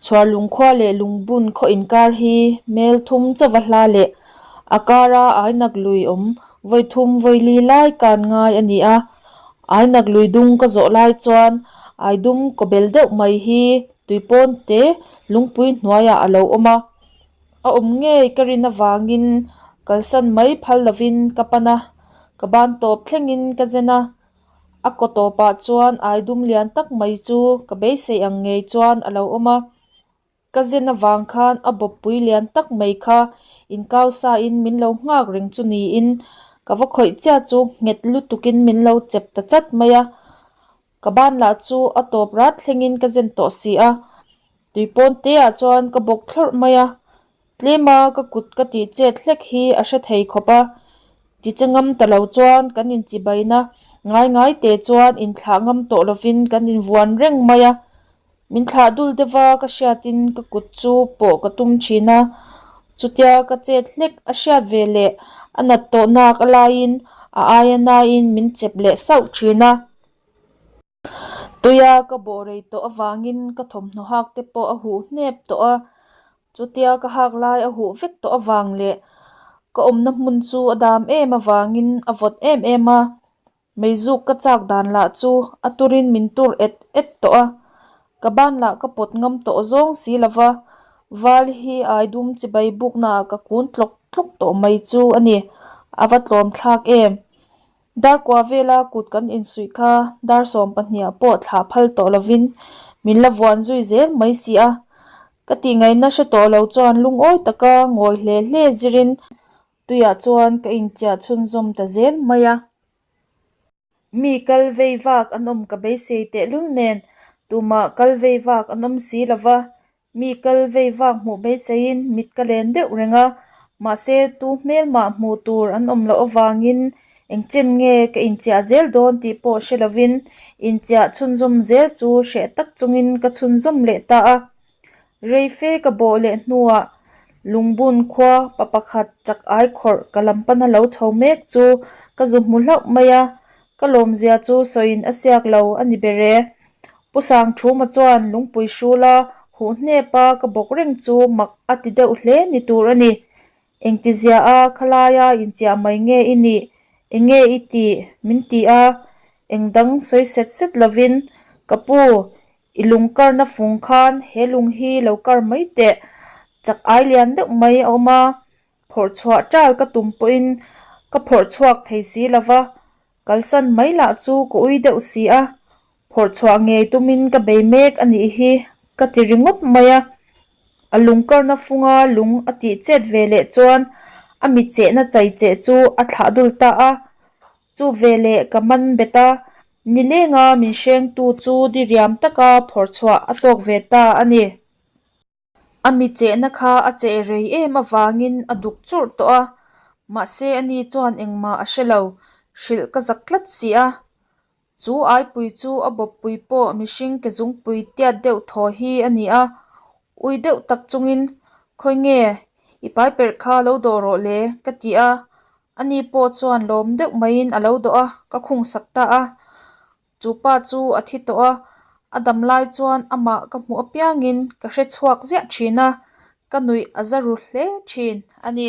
Chhuar lungkhua leh lungbun khaw inkar hi hmel thum chauva hla leh a kara ainak lui awm vawi thum vawi li lai kan ngai a ni a. Ainak lui dung ka zawh lai chuan ai dum kawbel deuh mai hi tui pawn te lungpui hnuaiah a lo awm a, a awm ngei ka rin avangin kalsan mai phal lovin ka pan a, ka ban tawp thlengin ka zen a. A kaw tawpah chuan ai dum lian tak mai chu ka beisei ang ngei chuan a lo awm a. Ka zen avang khan a bawppui lian tak mai kha inkau sain min lo nghak reng chu niin ka va khawih chiah chu nghet lutukin min lo chep ta chat mai a. Ka ban lah chu a tawp rat thlengin ka zen tawh si a, tui pawn te ah chuan ka bawk thlawrh mai a. Tlem a, ka kut ka tih chet hlek hi a hre thei khawp a, ti che ngam ta lo chuan kan inchibain a, ngai ngai te chuan inthlah ngam tawh lovin kan invuan reng mai a, min thlah dul deuh a ka hriatin ka kut chu pawh ka tum thin a, chutia ka chet hlek a hriat ve leh a nat tawh nak a laiin a aia naiin min chep leh sauh thin a. Tuia ka bawh rei tawh avangin ka thawmhnaw hak te pawh a huh hnep tawh a, chutia ka hak lai a huh vek tawh avang leh ka awmna hmun chu a dam em avangin a vawt em em a, meizuk ka chak dan lah chu a turin min tur et et tawh a, ka ban lah ka pawt ngam tawh zawng si lova, Val hi ai dum chibai buknaah ka kun tlawk tlawk tawh mai chu a ni, a va tlawmthlak em. Dar kua vela kut kan insuih kha dar sawm pahniha pawh thlah phal tawh lovin min la vuan zui zel mai si a, ka tih ngaihna hre tawh lo chuan lungawi taka ngawi hle hle zirin tuiah chuan ka inchiah chhunzawm ta zel mai a. Mi kal vei vak an awm ka beisei tehlul nen tumah kal vei vak an awm si lova, Mi kal vei vak hmuh beiseiin mit ka len deuh reng a, mahse tu hmelmah hmuh tur an awm loh avangin engchen nge ka inchiah zel dawn tih pawh hre lovin inchiah chhunzawm zel chu hreh tak chungin ka chhunzawm leh ta a. Rei fe ka bawh leh hnuah Lungbun khua pa pakhat chak ai khawrh ka lam pana lo chho mek chu ka zu hmu hlauh mai a, Ka lawmzia chu sawiin a siak lo a ni ber e. Pu Sangthuma chuan lungpui hrul a, huh hnep a, ka bawk reng chu mak a ti deuh hle ni tur a ni. Engtizia a khalaia inchiah mai nge i nih? Enge i ti? Min ti a, eng dang sawi set set lovin, Ka pu, i lung karna fung khan he lung hi lo kar mai teh, chak ai lian deuh mai a awm a, Phawrh chhuah tal ka tum pawhin ka phawrh chhuak thei si lo va, kalsan mai lah chu ka ui deuh si a, phawrh chhuah ngei tumin ka bei mek a nih hi ka ti ringawt mai a. A lung karna funga lung a tih chet ve leh chuan a mi chehna chai che chu a thlah dul ta a, chu ve leh ka man bet a, ni lenga min hrengtu chu diriam taka phawrh chhuah a tawk ve ta a ni. A mi chehna kha a cheh rei em avangin a duk churh tawh a, mahse ani chuan engmah a hre lo, hrilh ka zak tlat si a. Chu aipui chu a bawppui pawh mihring ke zungpui tiat deuh thaw hi a ni a, ui deuh tak chungin, Khawi nge i paiperh kha lo dawh rawh le, ka ti a, ani pawh chuan lawm deuh maiin a lo dawh a, ka khungsak ta a. Chupa chu a thi tawh a, a dam lai chuan amah ka hmuh apiangin ka hre chhuak ziah thin a, ka nuih a za ru hle thin a ni.